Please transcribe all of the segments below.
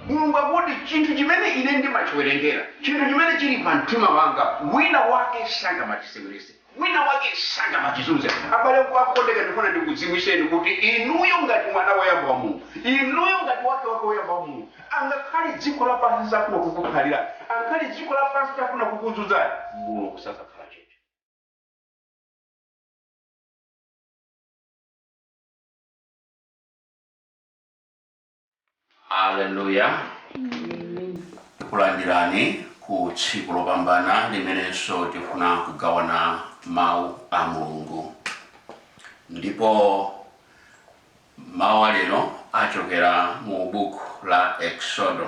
mulungu akuti chinthu chimene ine ndimachiwerengera chinthu chimene chili pa mtima wanga wina wake sangamachiseweretse wina wake sangamachizunze abale okondeka ndifuna ndikudziwitseni kuti inuyo ngati mwana woyamba wa mulungu inuyo ngati wake wake woyamba wa mulungu angakhale dziko lapansi lifuna kukukhalira angakhale dziko lapansi lifuna kukuzunzani mulungu sazakhala chete Haleluya. Tikulandirani ku tsiku lopambana limenenso tifuna kugawana mawu a Mulungu. Ndipo mawu alero achokera mu buku la Eksodo.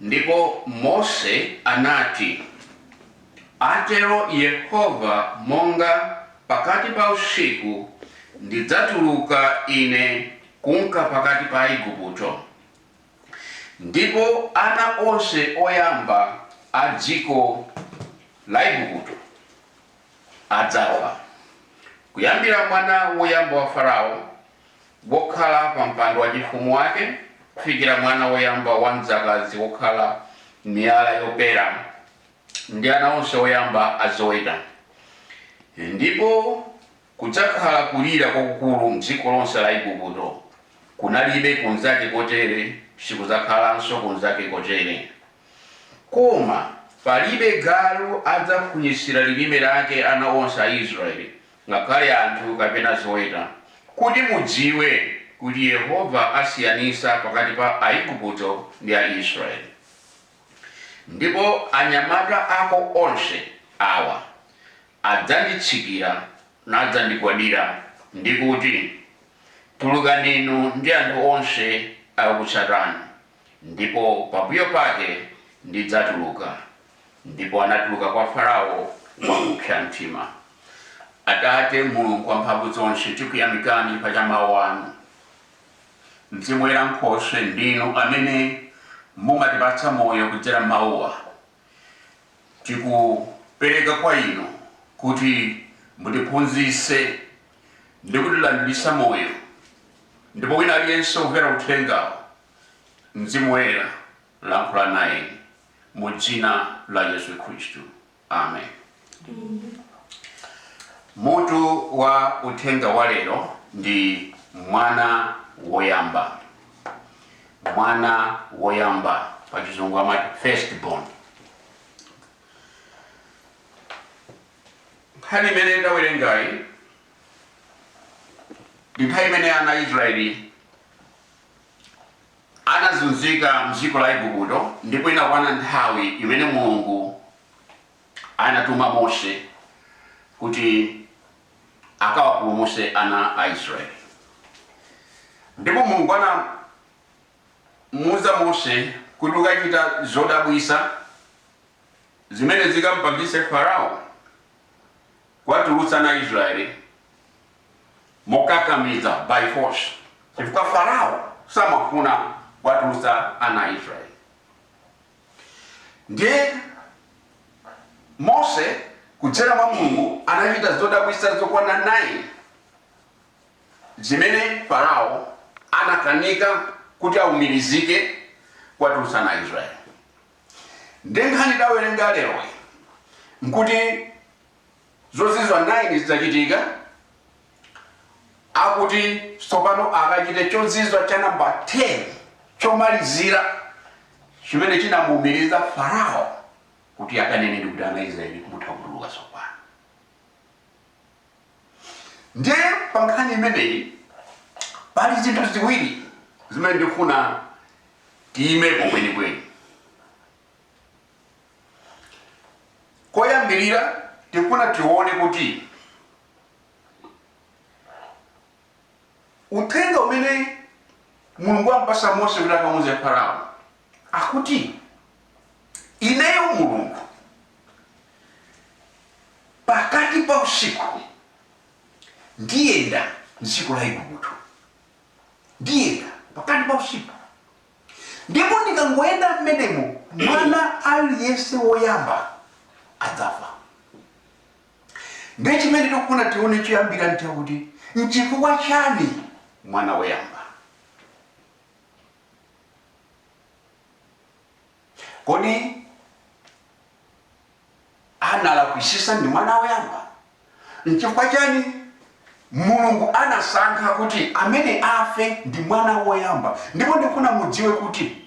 Ndipo Mose anati, Atero Yehova, Monga pakati pa usiku ndidzatuluka ine kunka pakati pa Aigupto, ndipo ana onse oyamba a dziko la Aigupto adzafa, kuyambira mwana woyamba wa Farao, Wokhala pa mpando wachifumu wake, kufikira mwana woyamba wa mdzakazi wokhala m'miyala yopera, ndi ana onse oyamba a zoweta. Ndipo kudzakhala kulira kwakukulu m'dziko lonse la Igupto, kunalibe kunzake kotere, sikudzakhalanso kunzake kotere. Koma palibe galu adzafunyitsira lilime lake ana onse a Israele. ngakhale anthu kapena zoweta, kuti mudziwe kuti Yehova asiyanitsa pakati pa Aigupto ndi Aisraele. Ndipo anyamata ako onse awa adzanditsikira nadzandigwadira, ndi kuti, Tulukani inu ndi anthu onse akukutsatani. ndipo pambuyo pake ndidzatuluka. Ndipo anatuluka kwa Farao wakupsa mtima. Atate, Mulungu Wamphamvuzonse, tikuyamikani pa cha Mawu anu. Mzimu Woyera Nkhoswe, ndinu amene mumatipatsa moyo kudzera m'Mawuwa. tikupereka kwa inu kuti mutiphunzitse ndi kutilandiritsa moyo ndipo wina aliyense womvera uthengawu mzimu woyera lankhula nayeni mu dzina la yesu khristu amen Mutu wa uthenga wa lero ndi mwana woyamba. Mwana woyamba pa chizungu amati first born. Nkhani imene tawerengayi ndi nthawi imene ana a Israeli anazunzika mdziko la Igupto ndipo inakwana nthawi imene Mulungu anatuma Mose kuti akawapulumutse ana a Israeli. Ndipo Mulungu anamuuza Mose kuti ukachita zodabwitsa zimene zikampangitse Farao kuwatulutsa ana a Israeli mokakamiza, by force, chifukwa Farao samafuna kuwatulutsa ana a Israeli. Ndiye, Mose, kudzera mwa Mulungu, anachita zodabwitsa zokwana 9 zimene Farao anakanika kuti aumirizike kuwatulutsa ana a Israeli. Ndiye nkhani tawerenga leroyi nkuti Zozizwa 9 zitachitika, akuti tsopano akachite chozizwa cha namba 10, chomalizira, chimene chinamuumiriza Farao kuti akanene ndi kuti ana Israeli mutha kutuluka tsopano. Ndiye pa nkhani imeneyi pali zinthu ziwiri zimene ndifuna tiyimepo kwenikweni. Koyambirira tikufuna tione kuti uthenga umene Mulungu ampasa Mose kuti akamuuze Farao akuti ineyo Mulungu pakati pa usiku ndiyenda m'dziko la Igupto, ndiyenda pakati pa usiku Ndipo ndikangoyenda mmenemo, mwana aliyense woyamba adzafa. Ndiye chimene tikufuna tione choyambira nchakuti nchifukwa chani mwana woyamba Kodi analakwisisa ndi mwana woyamba? Nchifukwa chani Mulungu anasankha kuti amene afe ndi mwana woyamba? Ndipo ndikufuna mudziwe kuti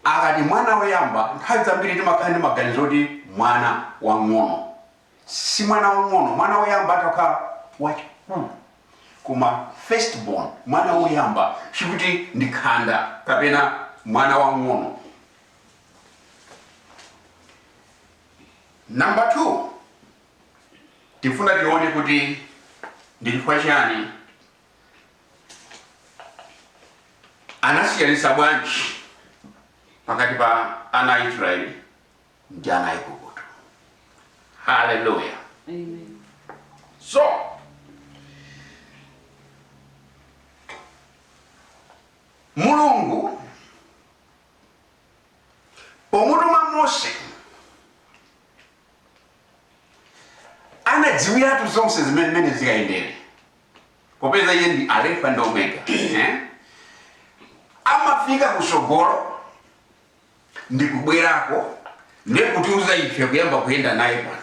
akati mwana woyamba nthawi zambiri timakhala ndi maganizo oti mwana wang'ono. si mwana wang'ono, mwana woyamba atha kukhala wachikulire, koma firstborn, mwana woyamba, sikuti ndi khanda kapena mwana wang'ono. Number two, tifuna tione kuti ndi chifukwa chiyani anasiyanitsa bwanji pakati pa ana a Israeli ndi ana a Igupto. Haleluya! Amen. So Mulungu pomutuma Mose anadziwiratu zonse zimene mmene zikayendere popeza iye ndi Alefa ndi Omega, amafika kusogolo ndikubwerako nde kutiuza ife kuyamba kuyenda naye pano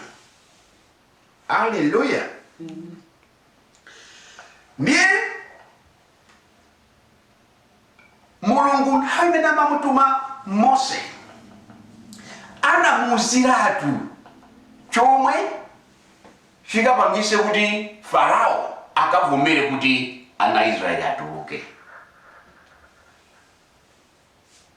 aleluya ndiye mulungu nthawi imene amamutuma mose anamuuziratu chomwe chikapangise kuti farao akavomere kuti ana israeli atuluke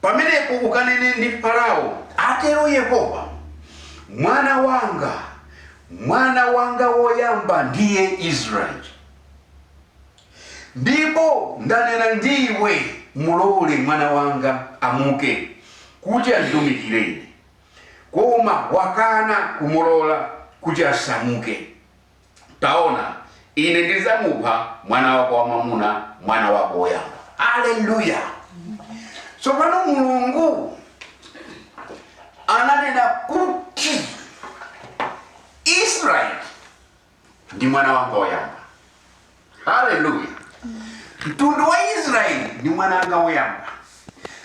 Pamenepo ukanene ndi Farao, Atero Yehova, Mwana wanga, mwana wanga woyamba ndiye Israyeli, ndipo ndanena ndi iwe, Mulole mwana wanga amuke, kuti anditumikire ine, koma wakana kumulola kuti asamuke. Taona, Ine ndidzamupha mwana wako wamwamuna, mwana wako woyamba. Aleluya! So pano Mulungu ananena kuti Israeli ndi mwana wanga woyamba. haleluya mtundu wa israeli ndi mwana wanga woyamba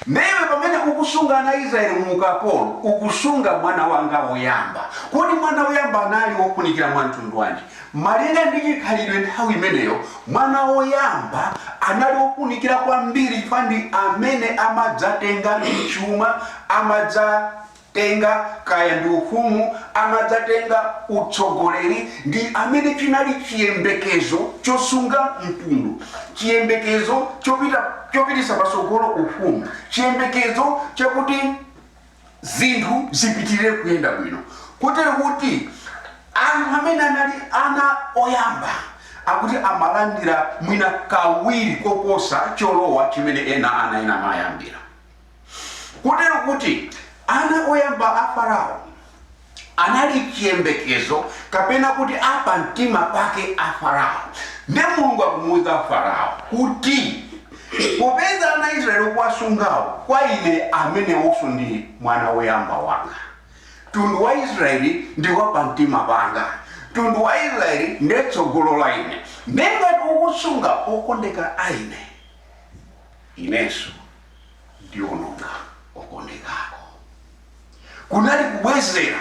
nde iwe pamene ukusunga ana israeli mu ukapolo ukusunga mwana wanga woyamba kodi mwana woyamba anali wofunikira mwa mtundu wanji malinga ndi chikhalidwe nthawi imeneyo mwana woyamba anali wofunikira kwambiri chifukwa ndi amene amadzatenga chuma amadza tenga kaya ndi ufumu amadzatenga utsogoleri ndi amene chinali chiyembekezo chosunga mtundu, chiyembekezo chopititsa patsogolo ufumu, chiyembekezo chakuti zinthu zipitirire kuyenda bwino. Kotero kuti anthu amene anali ana oyamba akuti amalandira mwina kawiri koposa cholowa chimene ena ana ena amayambira. kotero kuti ana oyamba a Farao anali chiyembekezo, kapena kuti a pamtima pake a Farao. Ndiye Mulungu akumuuza Farao kuti, Popeza ana a Israyeli ukuwasungawo, kwa ine amenewonso ndi mwana woyamba wanga. Mtundu wa Israyeli ndi wa pamtima panga. Mtundu wa Israyeli ndiye tsogolo la ine. Ndiye ngati ukusunga okondeka a ine, inenso ndiononga okondeka ako kunali kubwezera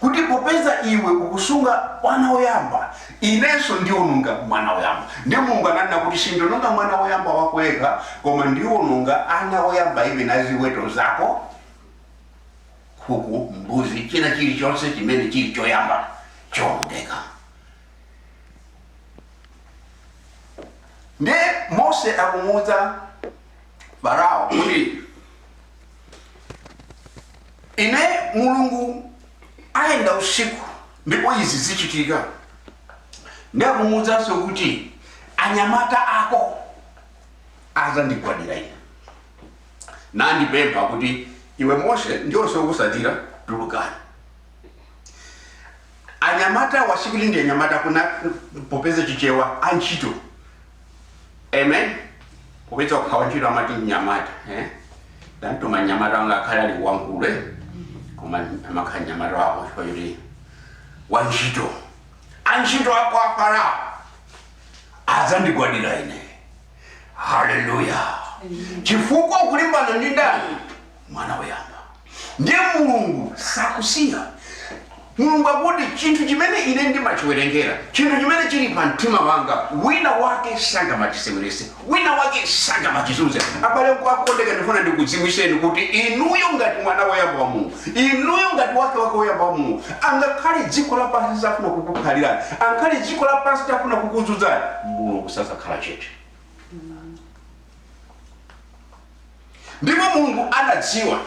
kuti popeza iwe ukusunga mwana woyamba inenso ndiononga mwana woyamba ndiye mulungu ananena kuti sindiononga mwana woyamba wako yekha koma ndiononga ana woyamba iwe na ziweto zake nkhuku mbuzi china chilichonse chimene chili choyamba chionongeka ndiye mose akumuwuza farao kuti inde mulungu ayenda usiku ndipo izi zichitika nde akumuwuzanso kuti anyamata ako azandigwadira ine nandipempha kuti iwe mose ndi onse okusatira tulukani anyamata wo sikuti ndi anyamata kuna popeza chichewa antchito amen popeza ukakhala wantchito amati mnyamata eh? ndamtuma mnyamata wanga akhale ali wankulu eh? koma amakhala mnyamata wako chifukwa choti wantchito antchito ako a farao adzandigwadira ine haleluya chifukwa ukulimbana ndi ndani mwana woyamba ndiye mulungu sakusiya mulungu akuti chinthu chimene ine ndimachiwerengera chinthu chimene chili pa mtima wanga wina wake sangamachisewerese wina wake sangamachizunze abale okondeka ndifuna ndikudziwiseni kuti inuyo ngati mwana woyamba wa mulungu inuyo ngati wake wake woyamba wa mulungu angakhale dziko lapansi litafuna kukukhalirani angakhale dziko lapansi litafuna kukuzunzani mulungu sazakhala chete ndipo mulungu anadziwa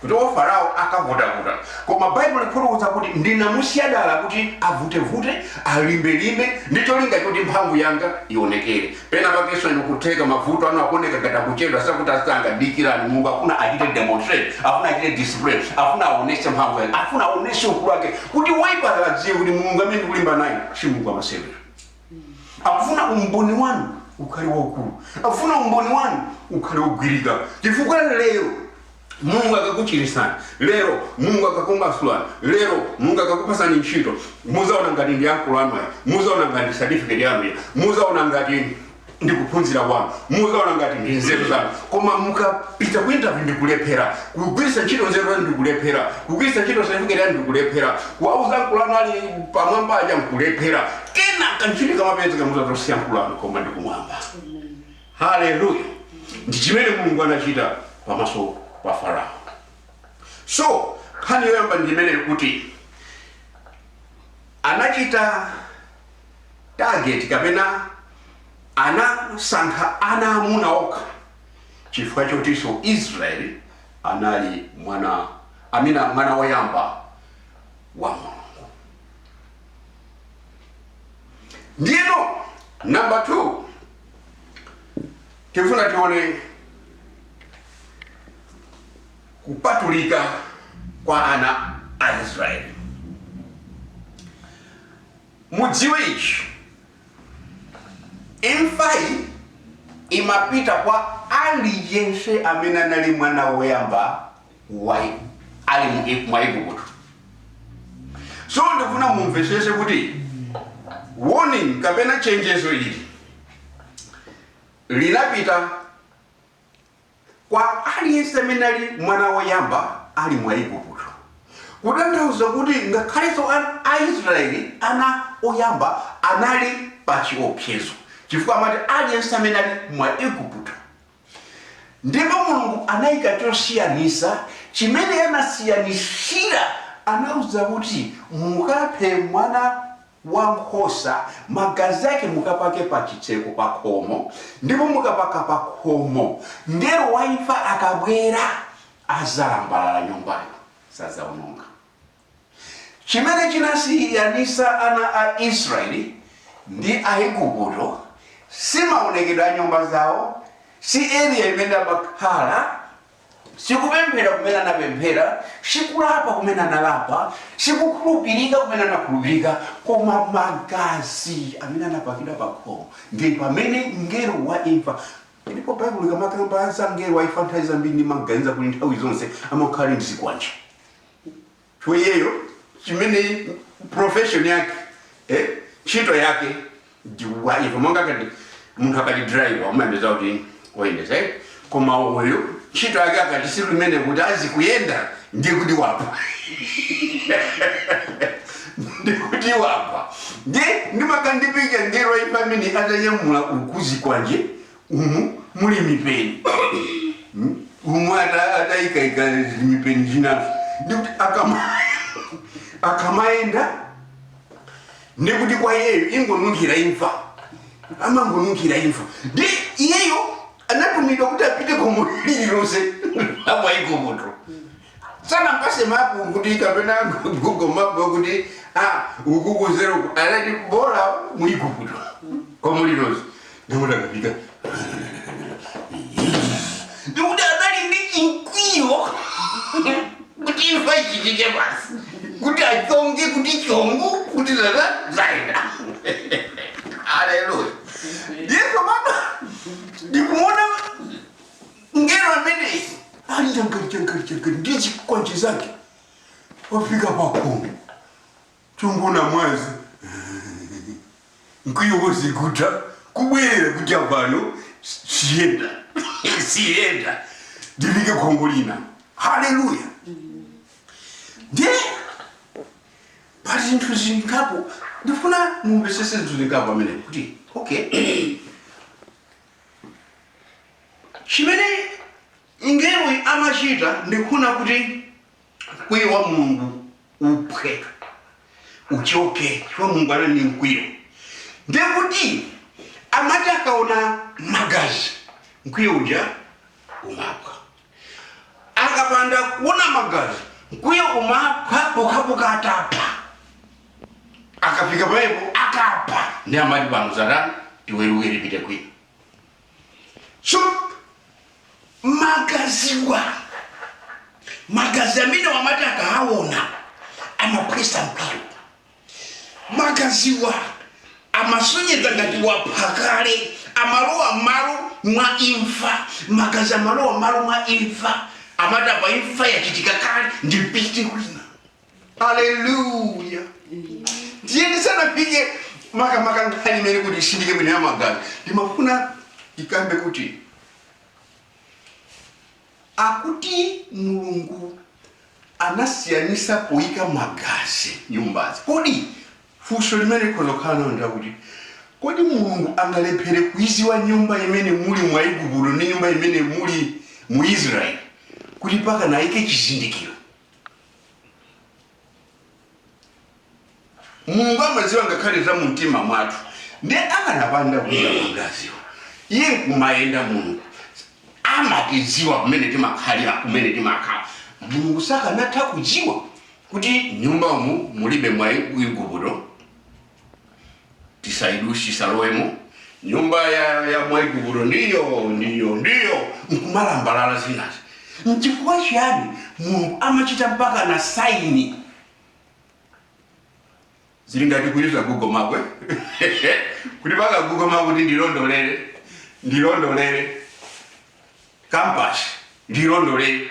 kuti a farao akavutavuta koma baibulo likufotokoza kuti ndinamusiya dala kuti avutevute alimbelimbe ndi cholinga choti mphamvu yanga ionekere pena pakenso ndi kutheka mavuto anu akuoneka ngati akuchedwa sakutha msanga dikirani mulungu afuna achite demonstrate afuna achite display afuna aonese mphamvu yake afuna aonese ukulu wake kuti woipayo adziwe kuti mulungu amene ndikulimbana naye si mulungu wamasewera akufuna umboni wanu ukhale waukulu akufuna umboni wanu ukhale wogwirika chifukwa lero mulungu akakuchirisani lero mulungu akakumasulani lero mulungu akakupasani ntchito muzaona ngati ndi ankolo anu aja muzaona ngati certificate yanu ija muzaona ngati ndi kuphunzira kwanu muzaona ngati ndi nzeru zanu koma mukapita ku interview ndi kulephera kugwiritsa ntchito nzeru zanu ndi kulephera kugwiritsa ntchito certificate yanu ndi kulephera kuwauza ankolo anu ali pamwamba aja nkulephera kenaka ntchito ikamapezeka muzati si ankolo anu koma ndi kumwamba haleluya ndi chimene mulungu anachita pamaso pa farao so nkhani yoyamba ndi imene kuti anachita target kapena anasankha ana amuna okha chifukwa chotiso Israel anali mwana wammuna mwana woyamba wa Mulungu ndiyeno number 2 tifuna tione kupatulika kwa ana a Israel Mudziwe ichi, imfayi imapita kwa aliyense amene anali mwana woyamba ali mwa Igupto. So ndifuna mumvetsetse kuti warning kapena chenjezo ili linapita kwa aliyense amene ali mwana woyamba ali mwa Igupto, kutanthauza kuti ngakhalenso Aisraeli ana oyamba anali pa chiopsezo, chifukwa amati aliyense amene ali mwa Igupto. Ndipo Mulungu anayika chosiyanisa chimene anasiyanishira, anauza kuti mukaphe mwana wa nkhosa, magazi ake mukapake pa chitseko pa khomo, ndipo mukapaka pa khomo, mngelo wa imfa akabwera adzalambalala nyumbayo, sadzaononga. Chimene chinasiyanisa ana a Israeli ndi Aiguputo si maonekedwe a nyumba zawo, si area imene amakhala, Si kupemphera kumene anapemphera, si kulapa kumene analapa, si kukhulupirika kumene anakhulupirika, koma magazi amene anapakidwa pa khomo. Ndi pamene mngelo wa imfa ndipo Baibulo likamakamba za mngelo wa imfa nthawi zambiri ndimaganiza kuti nthawi zonse amakhala ali ndi zikwanje. so iyeyo chimene profession yake eh ntchito yake ndi wa imfa monga kuti munthu akati driver umayembeza kuti oyendesa eh? koma uyu ntchito yake akati si limene kuti azikuyenda ndi kuti wapha ndikuti wapha nde ndimakhala ndi picture mngelo wa imfa amene atanyamula uku zikwanje umu muli mipeni Hmm? umu ata- atayikaika mipeni zinazo ndikuti akama akamayenda ndikuti kwa iyeyo ingonunkhira imfa amangonunkhira imfa ndi iyeyo anatumidwa kuti apite khomo lililonse la mu aigupto Sanampase map kuti kapena google map kuti ah uku kuzeruku anati bola mu igupto khomo lililonse ndikuti akapita ndikuti anali ndi chimkwiyo kuti imfa ichitike basi kuti achonge kuti chongo kuti zaenda aleluya yesu mama ndikuona Mngelo ameneyu ali changati changati changati ndi chikwanje zake wafika pakhomo chongoona mwazi mkwiyo wonse kutha kubwerera kuti apano siyenda siyenda ndifike khomo lina haleluya ndiye pali zinthu zingapo ndifuna mumvesese zinthu zingapo amene kuti okay Chimene mngeloyu amachita ndi kufuna kuti mkwiyo wa Mulungu uphwe, uchoke, chifukwa Mulungu anali ndi mkwiyo. Ndiye kuti amati akaona magazi, mkwiyo uja umaphwa. Akapanda kuona magazi, mkwiyo umaphwa pokhapokha atapha. akafika pamenepo akapha ndiye amati pano tathana tiweruke tipite kwina so magaziwa magazi amene amati akaawona amaphwesa mkwiyo magaziwa amasonyeza ngati wapha kale amalowa malo mwa imfa magazi amalowa malo mwa imfa amati apa imfa yachitika kale ndipite kwina haleluya ndiye ndisanafike makamaka nkhani imene kuti nditsindike bwino ya magazi ndimafuna ndikambe kuti akuti mulungu anasiyanisa poyika magazi nyumbazi kodi funso limene tikhoza kukhala nalo ndi lakuti kodi mulungu angalephere kuiziwa nyumba imene muli mu aigupto ndi nyumba imene muli mu israeli kuti mpaka naike chizindikiro mulungu amadziwa ngakhale za mumtima mwathu nde akanapanda kuika magaziwo iye nkumayenda mulungu amatidziwa kumene timakhalira kumene timakhala mulungu sakanatha kudziwa kuti nyumba umu mulibe mu aigupto tisaidutse tisalowemo nyumba ya, ya mwaigupto ndiyo ndiyo ndiyo nkumalambalala zinazi mchifukwa chiyani mulungu amachita mpaka na saini zili ngati kuyiza google map kuti paka google map kuti ndilondolere ndilondolere kampasi ndilondolere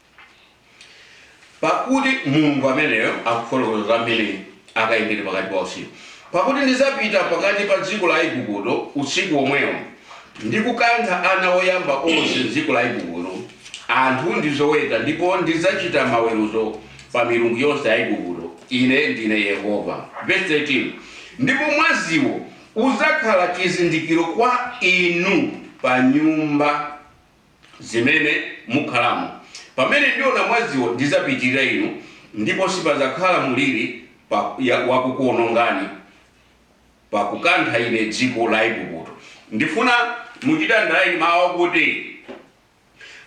Pakuti Mulungu ameneyo akufotokoza za mmene akayendere pakati pa usiku. Pakuti ndidzapita pakati pa dziko la Igupto usiku womwewo, ndi kukantha ana oyamba onse m'dziko la Igupto, anthu ndi zoweta, ndipo ndidzachita maweruzo pa milungu yonse ya Igupto, Ine ndine Yehova. Vesi 13 Ndipo mwaziwo udzakhala chizindikiro kwa inu pa nyumba zimene mukhalamo. Pamene ndiona mwaziwo, ndidzapitirira inu, ndipo sipadzakhala mliri wakukuonongani pa kukantha ine dziko la Igupto. Ndifuna muchite underline mawu akuti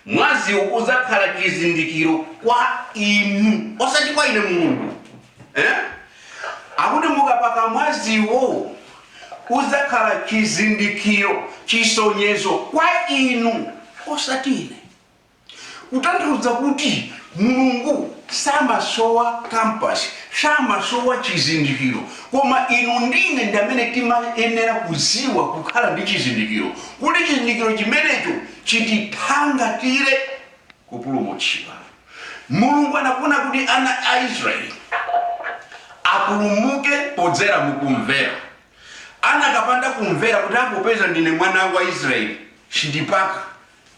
mwaziwo udzakhala chizindikiro kwa inu, osati kwa ine Mulungu. Eh? Akuti mukapaka mwaziwo udzakhala chizindikiro, chisonyezo, kwa inu, osati ine. Kutanthauza kuti Mulungu samasowa compass, samasowa chizindikiro, koma inu ndi ine ndi amene timayenera kudziwa, kukhala ndi chizindikiro, kuti chizindikiro chimenecho chitithangatire. kupulumutsidwa. Mulungu anafuna kuti ana a Israeli apulumuke podzera mu kumvera. Anakapanda kumvera kuti a popeza ndine mwana wa Israeli sindipaka,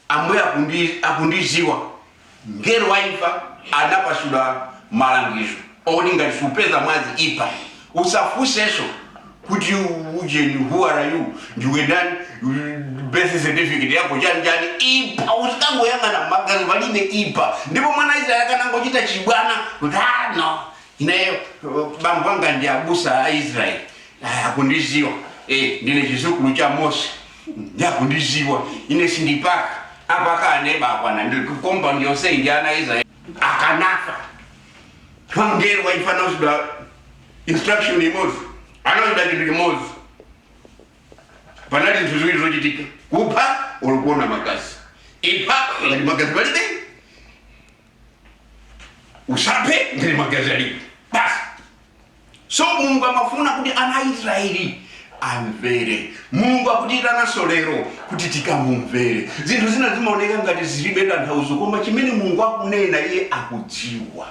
Ambuye akundi akundiziwa, mngelo wa imfa anapatsidwa malangizo oti ngati supeza mwazi ipha, usafunseso. kuti ujeni who are you ndiwe ndani birth certificate yako chani chani ipa uzikangoyang'ana magazi palibe ipa ndipo mwana israeli akanangochita chibwana kuti "Ah, no ineyo uh, bambo anga ndi abusa a israeli Ah, akundiziwa eh, ndine chidzukulu cha mose nde akundiziwa ine sindipaka apaka aneba akwana ndipo nyumba ndi yonse ndi ya ana a israeli akanafa mngelo wa imfa anauzidwa instruction imodzi amachita chinthu chimodzi panali zinthu ziwiri zochitika kupha olo kuona magazi ipha ngati magazi palibe usaphe ngati magazi alipo basi so mulungu amafuna kuti ana a israeli amvere mulungu akutiitananso lero kuti tikamumvere zinthu zina zimaoneka ngati zilibe tanthauzo koma chimene mulungu akunena iye akudziwa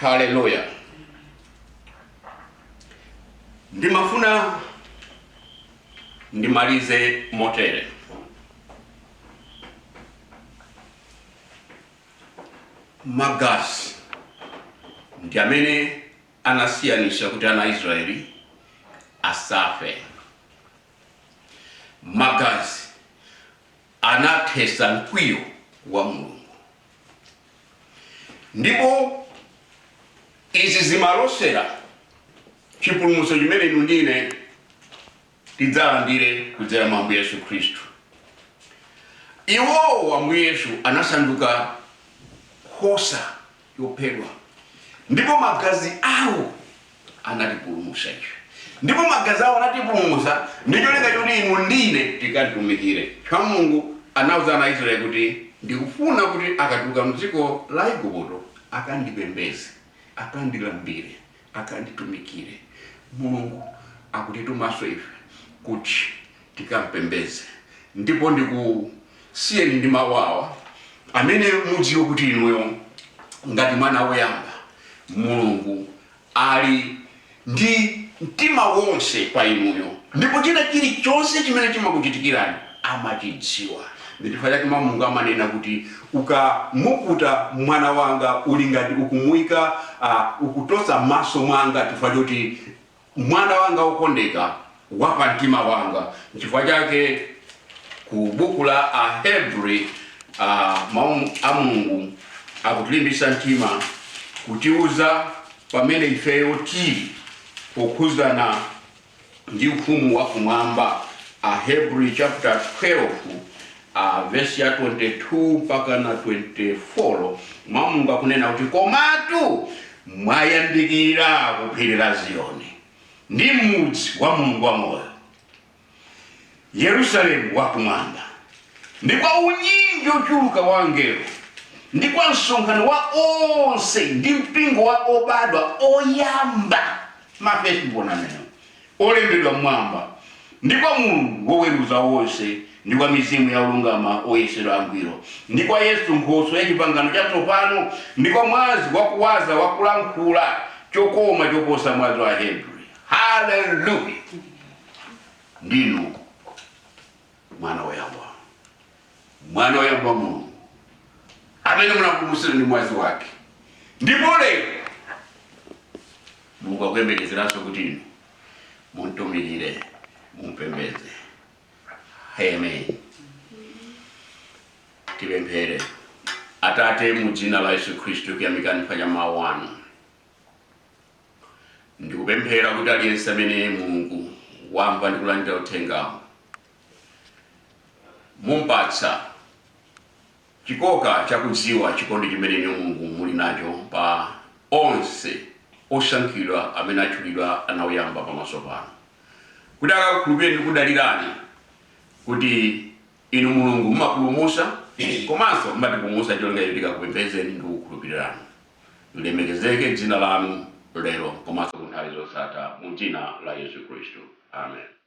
haleluya ndimafuna ndimalize motere magazi ndi amene anasiyanitsa kuti ana aisraeli asafe magazi anathetsa mkwiyo wa Mulungu. Ndipo izi zimalosera chipulumutso chimene inu ndi ine tidzalandire kudzera mwa Ambuye Yesu Khristu. Iwowo Ambuye Yesu anasanduka nkhosa chophedwa ndipo magazi awo anatipulumutsa ife ndipo magazi awo anatipulumutsa ndi cholinga choti inu ndine tikamtumikire chifukwa mulungu anauza ana aisraeli kuti ndikufuna kuti akatuluka mdziko la igupto akandipembeze akandilambire akanditumikire. Mulungu akutitumanso ife kuti tikampembedze. Ndipo ndikusiyeni ndi mau awa amene mudziwe kuti inuyo ngati mwana woyamba Mulungu ali ndi mtima wonse pa inuyo ndipo china chilichonse chimene chimakuchitikirani, amachidziwa. Ndi chifukwa chake Mau a Mulungu amanena kuti, Ukamuputa mwana wanga uli ngati ukumuika a, ukutosa m'maso mwanga chifukwa choti mwana wanga wokondedwa, wa pa mtima wanga. Nchifukwa chake ku buku la Ahebri a, Mau a Mulungu akutilimbitsa mtima kutiuza pamene ifeyo tili pokhudzana ndi ufumu wa kumwamba Ahebri chaputala 12 a vesi ya 22 mpaka na 24, Mau a Mulungu akunena kuti komatu mwayandikira ku phiri la Ziyoni ndi mudzi wa Mulungu wamoyo. Yerusalemu wa Kumwamba, ndi kwa unyinji wochuluka wa angelo, ndi kwa msonkhano wa onse, ndi mpingo wa obadwa oyamba, ma firstborn amenewo, olembedwa m'Mwamba, ndi kwa Mulungu woweruza onse, ndi kwa mizimu ya olungama oyesedwa angwiro, ndi kwa Yesu nkhoswe ya chipangano chatsopano, ndi kwa mwazi wakuwaza wa kulankhula chokoma choposa mwazi wa Ahebri. Haleluya! Ndinu Mwana woyamba, Mwana woyamba wa Mulungu, amene munapulumutsidwa ndi mwazi wake. Ndipo lero Mulungu akuyembekezeranso kuti inu mumtumikire, mumpembedze. Amen. Tipemphere. Atate, mu dzina la Yesu Khristu, tikuyamikani chifukwa cha mawu anu. Ndikupemphera kuti aliyense amene Mulungu wamva ndi kulandira uthengawo mumpatse chikoka chakudziwa chikondi chimene inu Mulungu muli nacho pa onse osankhidwa amene atchulidwa ana oyamba pamaso panu, kuti akakukhulupirireni ndi kudalirani kuti inu Mulungu mumapulumutsa komanso mumatipulumutsa cholinga choti tikakupembedzeni ndi kukukhulupirirani. Lilemekezeke dzina lanu lero komanso ku nthawi zosatha mu dzina la Yesu Khristu. Amen.